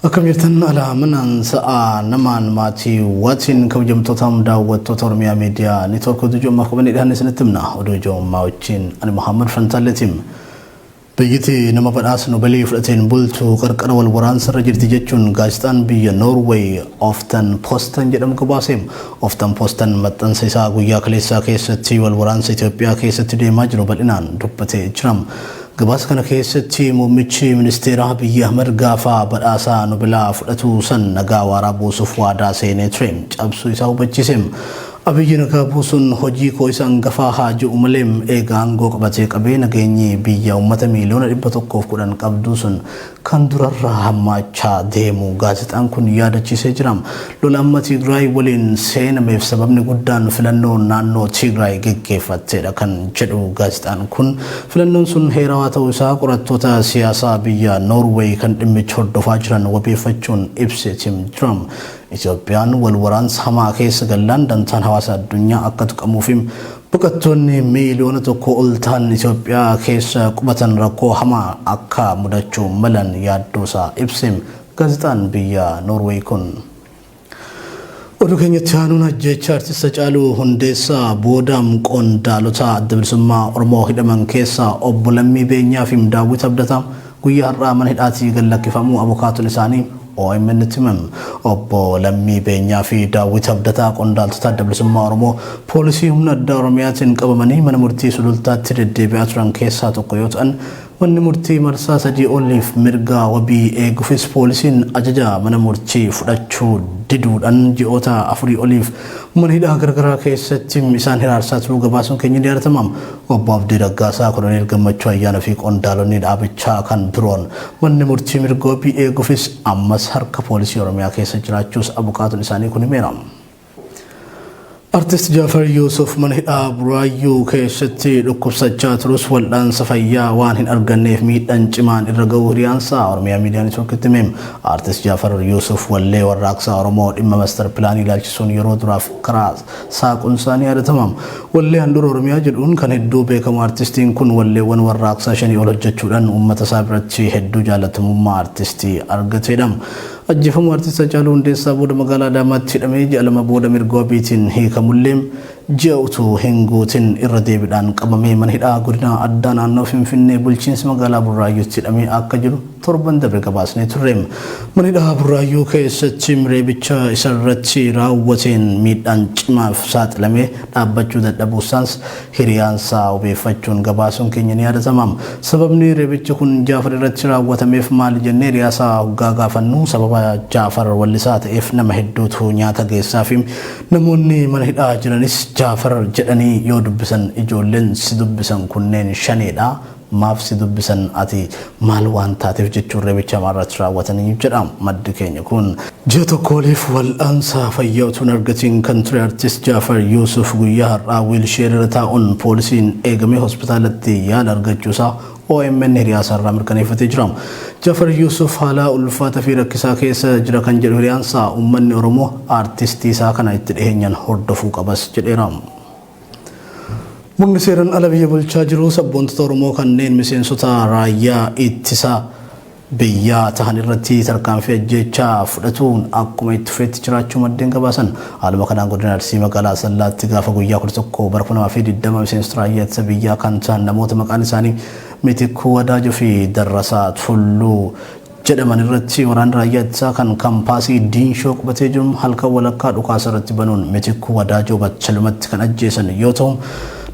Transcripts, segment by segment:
Akkam jirtan alaa manaan sa'aa namaan maatii watiin kabajamtootaam daawwattoota Oromiyaa miidiyaa network oduu ijoommaa qabannee dhiyaanne isinitti himna oduu ijoommaa wajjin ani Muhammad Fantaalleetiim. Biyyiti nama badhaasnu balii fudhateen bultu qarqara wal waraansa irra jirti jechuun gaazexaan biyya Noorweey Oftan Postan jedhamu gabaase. Oftan Postan maxxansa isaa guyyaa kaleessaa keessatti wal waraansa Itoophiyaa keessatti deemaa jiru bal'inaan dubbatee jira. Gabaasa kana keessatti muummichi ministeeraa Abiyyi Ahmad gaafa badhaasa Nobelaa fudhatu san nagaa waaraa buusuuf waadaa seenee ture cabsuu isaa hubachiise. Abiyyi nagaa buusuun hojii koo isa angafaa haa je'u malee eega aangoo qabatee qabee nageenyi biyya ummata miiliyoona 110 qabduu sun kan durarra hammaachaa deemu gaazexaan kun yaadachiisee jira. Lola amma Tigraay waliin seenameef sababni guddaan filannoo naannoo Tigraay geggeeffatteedha kan jedhu gaazexaan kun filannoon sun heerawaa ta'uu isaa qorattoota siyaasaa biyya Noorweey kan dhimmicha hordofaa jiran wabeeffachuun ibseetim jira. Itoophiyaan wal waraansa hamaa keessa gallaan dantaan hawaasa addunyaa akka tuqamuufi Baqattoonni miiliyoona tokkoo ol tahan Itoophiyaa keessa qubatan rakkoo hamaa akka mudachuu malan yaaddoosaa ibse gaazexaan biyya Noorweey kun. Oduu keenyatti aanuun ajjeechaa artist Hacaaluu Hundeessaa booda qondaalota Adda Bilisummaa Oromoo hidhaman keessaa obbo Lammii Beenyaa fi Daawwit Abdataa Guyyaa har'aa mana hidhaatii gad lakkifamuu abokaatoon isaanii OMN-tti himan. Obbo Lammii Beenyaa fi Daawwit Abdataa qondaaltota Adda Bilisummaa Oromoo poolisii humna addaa Oromiyaatiin qabamanii mana murtii Sulultaatti deddeebi'aa turan keessaa tokko yoo ta'an, manni murtii marsaa sadii oliif mirga wabii eeguufis poolisiin ajaja mana murtii fudhachuu diduudhaan ji'oota afurii oliif mana hidhaa garagaraa keessatti isaan hiraarsaa turuu gabaasuun keenya ni yaadatama. Obbo Abdii Raggaasaa, Koloneel Gammachuu Ayyaanoo fi qondaalonni dhaabichaa kan biroon manni murtii mirga wabii eeguufis ammas harka poolisii Oromiyaa keessa jiraachuus abukaatoon isaanii kun himeera. Artist Jaafar Yuusuf mana hidhaa Buraayyuu keessatti dhukkubsachaa turus wal'aansa fayyaa waan hin arganneef miidhaan cimaan irra ga'uu hiriyaansaa Oromiyaa Miidiyaa Networkitti hime. Artist Jaafar Yuusuf wallee warraaqsaa Oromoo dhimma mastar pilaanii ilaalchisuun yeroo duraaf karaa Saaquun isaa ni yaadatama. Wallee Handhuura Oromiyaa jedhuun kan hedduu beekamu artistiin kun walleewwan warraaqsaa shanii ol hojjechuudhaan uummata isaa biratti hedduu jaalatamummaa artistii argateedha. Ajjeefamuu Artist Hacaaluu Hundeessaa booda magaalaa Adaamaatti hidhamee ji'a lama booda mirga wabiitiin hiikamullee ji'a utuu hin guutin irra deebiidhaan qabamee mana hidhaa godina addaa naannoo Finfinnee bulchiinsa magaalaa Burraayyuutti hidhamee akka jiru Torban dabre gabaasnee turre. Mana hidhaa Burraayyuu keessatti reebicha isarratti raawwateen miidhaan cimaaf saaxilamee dhaabbachuu dadhabuusaas hiriyaansaa wabeeffachuun gabaasuun keenya ni yaadatama. Sababni reebichi kun Jaafar irratti raawwatameef maali jennee hiriyaasaa hoggaa gaafannu sababa Jaafar wallisaa ta'eef nama hedduutu nyaata geessaafi. Namoonni mana hidhaa jiranis Jaafar jedhanii yoo dubbisan ijoolleen si dubbisan kunneen shaneedha Maaf si dubbisan ati maal waan taateef jechuun reebicha hamaa irratti raawwatanii jedha maddi keenya kun. Ji'a tokko oliif wal'aansa fayyaa utuu hin argatiin kan ture Artist Jaafar Yuusuf guyyaa har'aa wiilsheerii irra taa'uun poolisiin eegamee hospitaalatti yaala argachuu isaa omn hiriyaa isaa irraa mirkaneeffatee jira. Jaafar Yuusuf haalaa ulfaataa fi rakkisaa keessa jira kan jedhu hiriyaan isaa uummanni Oromoo Artistii isaa kana itti dhiheenyaan hordofuu qabas jedheera. Murni seeran ala biyya bulchaa jiru sabboontota Oromoo kanneen miseensota raayyaa ittisa biyyaa tahan irratti tarkaanfii ajjeechaa fudhatuun akkuma itti fufeetti jiraachuu maddeen gabaasan. Haaluma kanaan godina Arsii magaalaa Asallaatti gaafa guyyaa 11 bara 2020 miseensota raayyaa ittisa biyyaa kan tahan namoota maqaan isaanii Mitikkuu Wadaajoo fi Darrasaa Tulluu jedhaman irratti waraanni raayyaa ittisaa kan kampaasii Diinshoo qubatee jiru halkan walakkaa dhukaasa irratti banuun Mitikkuu Wadaajoo battalumatti kan ajjeesan yoo ta'u,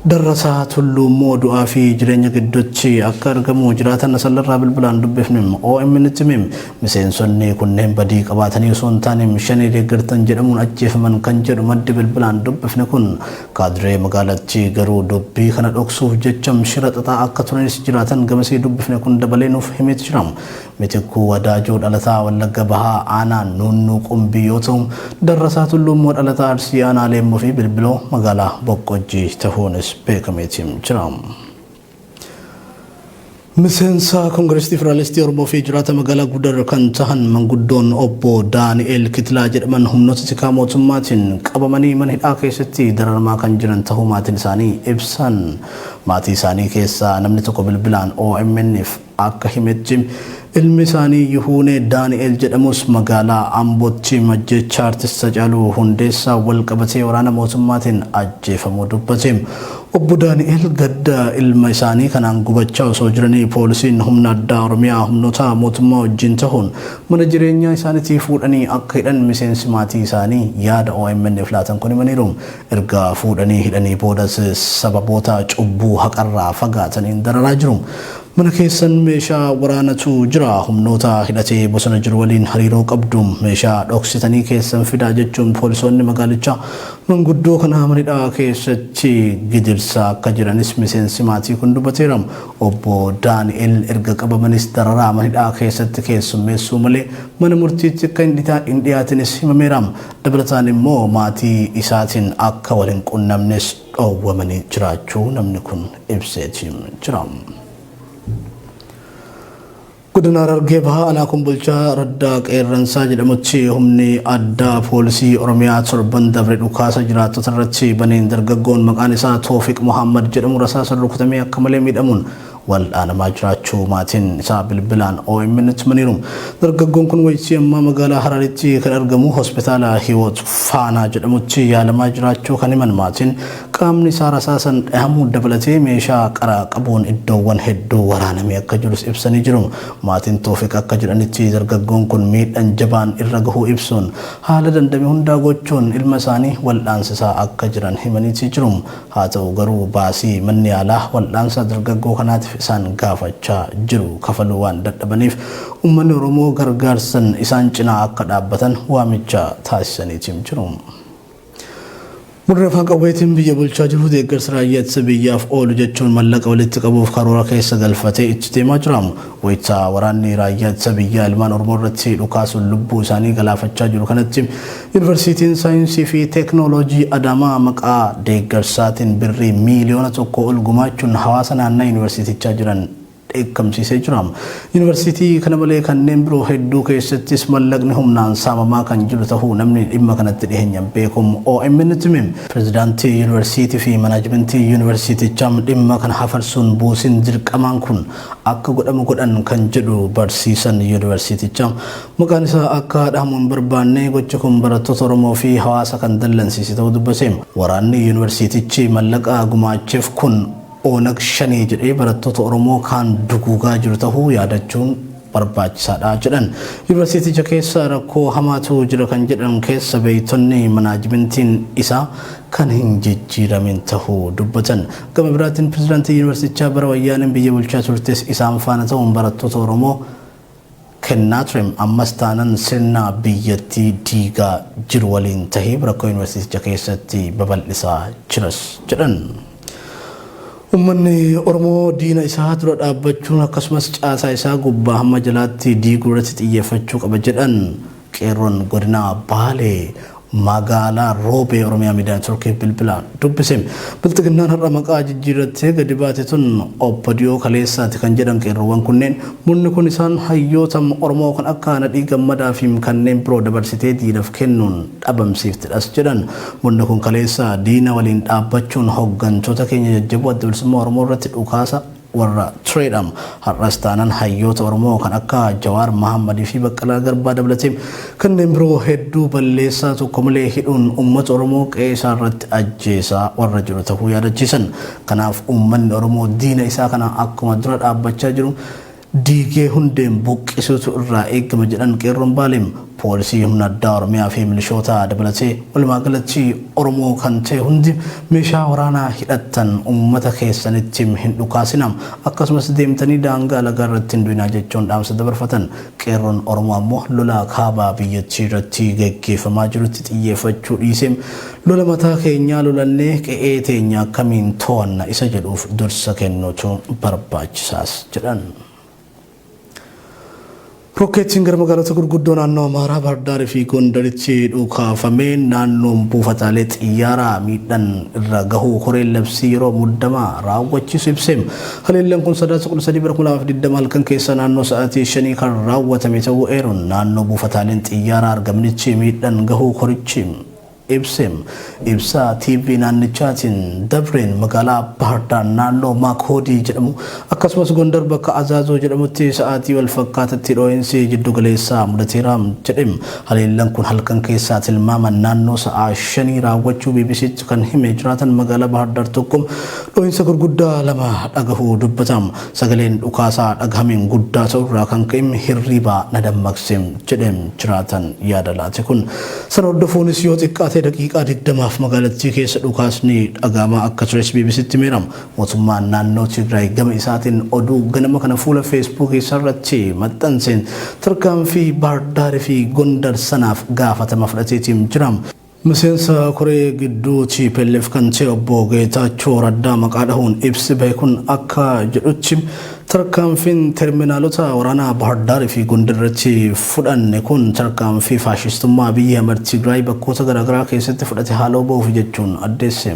Darrasaa Tulluu immoo du'aa fi jireenya gidduutti akka argamu jiraataan Asallarraa bilbilaan dubbifne OMNtti hime. Miseensonni kunneen badii qabaatanii osoo hin taane Shanee deeggartan jedhamuun ajjeefaman kan jedhu maddi bilbilaan dubbifne kun Kaadiree magaalattii garuu dubbii kana dhoksuuf jecha shira xaxaa akka turanis jiraatan gamasii dubbifne kun dabalee nuuf himeet jira. Mitikkuu Wadaajoo dhalataa Wallagga Bahaa aanaa Nuunnuu Qumbii yoo ta'u, Darrasaa Tulluu immoo dhalataa Arsii aanaa Leemmuu fi Bilbiloo magaalaa Boqqojjii tahuunis beekameeti jira. Miseensa Koongireesii Federaalistii Oromoo fi jiraata magaalaa Gudar kan tahan manguddoon obbo Daani'eel Kitilaa jedhaman humnoota tikaa mootummaatiin qabamanii mana hidhaa keessatti dararamaa kan jiran tahuu maatiin isaanii ibsan. Maatii isaanii keessaa namni tokko bilbilaan OMN'f akka himetti, ilmi isaanii Yihuunee Daani'eel jedhamus magaalaa Ambootti majjeechaa Artist Hacaaluu Hundeessaan walqabatee waraana mootummaatiin ajjeefamuu dubbate. Obbo Daani'eel gadda ilma isaanii kanaan gubachaa osoo jiranii poolisiin humna addaa Oromiyaa humnoota mootummaa wajjiin tahuun mana jireenyaa isaanitii fuudhanii akka hidhan miseensi maatii isaanii yaada OMN'f laatan kun himaniiru. Erga fuudhanii hidhanii boodas sababoota cubbuu haqarraa fagaataniin dararaa jiru. Mana keessan meeshaa waraanatu jira. Humnoota hidhatee bosona jiru waliin hariiroo qabdu. Meeshaa dhoksitanii keessan fidaa jechuun poolisoonni magaalichaa manguddoo kana mana hidhaa keessatti gidirsaa akka jiranis miseensi maatii kun dubateera. Obbo Daani'el erga qabamanis dararaa mana hidhaa keessatti keessummeessuu malee mana murtiitti akka hin dhiyaatinis himameera. Dabalataan immoo maatii isaatiin akka wal hin qunnamnes dhoowwamanii jiraachuu namni kun ibseeti jira. Godina Harargee Bahaa Aanaa Kombolchaa Raddaa Qeerransaa jedhamutti humni addaa poolisii Oromiyaa torban dabre dhukaasa jiraattota irratti baneen dargaggoon maqaan isaa Toofiq Mohaammed jedhamu rasaasaan rukutamee akka malee miidhamuun waldhaanamaa jiraachuu maatiin isaa bilbilaan OMNtti himaniiru. Dargaggoon kun waytii ammaa magaalaa Hararitti kan argamu hospitaala Hiwoot Faanaa jedhamutti yaalamaa jiraachuu kan himan maatiin qaamni isaa rasaasan dhahamuu dabalatee meeshaa qaraa qabuun iddoowwan hedduu waraanamee akka jirus ibsanii jiru. Maatiin Toofiq akka jedhanitti dargaggoon kun miidhan jabaan irra gahuu ibsuun haala dandame hundaa gochuun ilma isaanii waldhaansisaa akka jiran himaniitii jiru. Haa ta'u garuu baasii manni yaalaa wal'aansa dargaggoo kanaatif isaan gaafachaa jiru kafaluu waan dadhabaniif ummanni Oromoo gargaarsan isaan cinaa akka dhaabbatan waamicha taasisaniitim jiru. Warri afaan qawweetiin biyya bulchaa jiru deeggarsa raayyaa ittisa biyyaaf oolu jechuun mallaqa walitti qabuuf karoora keessa galfatee itti deemaa jira. Wayita waraanni raayyaa ittisa biyyaa ilmaan Oromoo irratti dhukaasuun lubbuu isaanii galaafachaa jiru kanatti Yunivarsiitiin Saayinsii fi Teeknooloojii Adaamaa maqaa deeggarsaatiin Birrii miiliyoona tokkoo ol gumaachuun hawaasa naannaa Yunivarsiitichaa jiran dheekkamsiisee jira. Yunivarsiitii kana malee kanneen biroo hedduu keessattis mallaqni humnaan saamamaa kan jiru tahuu namni dhimma kanatti dhiheenyan beeku OMNtti hime. Pirezidaantii Yunivarsiitii fi Manaajimentii Yunivarsiitichaa dhimma kana hafarsuun buusiin dirqamaan kun akka godhamu godhan kan jedhu barsiisan Yunivarsiitichaa, Maqaan isaa akka dhahamu hin barbaanne gochi kun barattoota Oromoo fi hawaasa kan dallansiise ta'uu dubbate. Waraanni yuunivarsiitichi mallaqa gumaacheef kun Onag Shanee jedhee barattoota Oromoo kaan duguugaa jiru ta'uu yaadachuun barbaachisaadha jedhan. Yuunivarsiiticha keessa rakkoo hamaatu jira kan jedhan keessa beektonni manaajimentiin isaa kan hin jijjiiramin ta'uu dubbatan. Gama biraatiin pirezidaantii yuunivarsiitichaa bara wayyaaneen biyya bulchaa turtes isaan faana ta'uun barattoota Oromoo Kennatrem ammas taanan sirna biyyattii diigaa jiru waliin tahee rakkoo Yuunivarsiiticha keessatti babal'isaa jiras jedhan. Ummanni Oromoo diina isaa dura dhaabbachuun akkasumas caasaa isaa gubbaa hamma jalaatti diiguu irratti xiyyeeffachuu qaba jedhan. Qeerroon Godina Baalee Magaalaa Roobee Oromiyaa Miidiyaa Networkiif bilbilaan dubbise. Bilxiginnaan har'a maqaa jijjiirrattee gadi baate tun OPDO kaleessaati kan jedhan qeerroowwan kunneen, murni kun isaan hayyoota Oromoo kan akka Nadhii Gammadaa fi kanneen biroo dabarsitee diinaf kennuun dhabamsiiftedhas jedhan. Murni kun kaleessa diina waliin dhaabbachuun hoggantoota keenya jajjaboo Adda Bilisummaa Oromoo irratti dhukaasa warra tureedha. Har'as taanan hayyoota Oromoo kan akka Jawaar Mahammad fi Baqqalaa Garbaa dabalatee kanneen biroo hedduu balleessaa tokko malee hidhuun uummata Oromoo qe'ee isaa irratti ajjeesaa warra jiru tahuu yaadachiisan. Kanaaf uummanni Oromoo diina isaa kana akkuma dura dhaabbachaa jiru diigee hundeen buqqisuutu irraa eegama jedhan Qeerroon Baalee. Poolisii, Humna Addaa Oromiyaa fi Milishoota dabalatee walumaa galatti Oromoo kan ta'e hundi meeshaa waraanaa hidhattan uummata keessanitti hin dhukaasinaa, akkasumas deemtanii daangaa lagaa irratti hin du'inaa jechuun dhaamsa dabarfatan. Qeerroon Oromoo ammoo lola kaaba biyyattii irratti gaggeeffamaa jirutti xiyyeeffachuu dhiisee lola mataa keenyaa lolannee qe'ee teenya akkamiin to'anna isa jedhuuf dursa kennuutu barbaachisaas jedhan. Rokkeetiin gara magaalota gurguddoo naannoo Amaaraa Baardaar fi Gondaritti dhukaafameen naannoon buufataalee xiyyaaraa miidhaan irra gahuu koreen labsii yeroo muddamaa raawwachiisu ibseem. Haleellaan kun Sadaasa 13 bara 2020 halkan keessa naannoo sa'aatii 5 kan raawwatame ta'uu eeruun naannoo buufataaleen xiyyaaraa argamnitti miidhaan gahuu korichi Ibsem ibsa TV naannichaatiin dabreen magaalaa Bahardaar naannoo Maakoodii jedhamu akkasumas Gondar bakka Azaazoo jedhamutti sa'aatii wal fakkaatatti dhoo'insi jiddu galeessaa mudateera jedhe. Haleellan kun halkan keessaa tilmaaman naannoo sa'aa shanii raawwachuu BBCtti kan hime jiraatan magaalaa Bahardaar tokko dhoo'insa gurguddaa lama dhagahuu dubbata. Sagaleen dhukaasaa dhagahameen guddaa ta'uu irraa kan ka'e hirriibaa na dammaqse, jedhe jiraataan yaada laate kun. Sana hordofuunis yoo xiqqaate daqiiqaa digdamaaf magaalattii keessa dhukaasni dhagahamaa akka tures BBC'tti himeera. Mootummaan naannoo Tigraay gama isaatiin oduu ganama kana fuula Feesbuukii isaarratti maxxanseen tarkaanfii Baahir Daar fi Gondar sanaaf gaafatama fudhateeti jira. Miseensa koree gidduu tplf kan ta'e obbo Geetaachoo Raddaa maqaa dhahuun ibsi bahe kun akka jedhutti tarkaanfiin terminaalota waraanaa Bahar Daar fi Gondar irratti fudhanne kun tarkaanfii faashistummaa Abiy Ahimad Tigraay bakkoota garaagaraa keessatti fudhate haaloo bahuuf jechuun addeesse.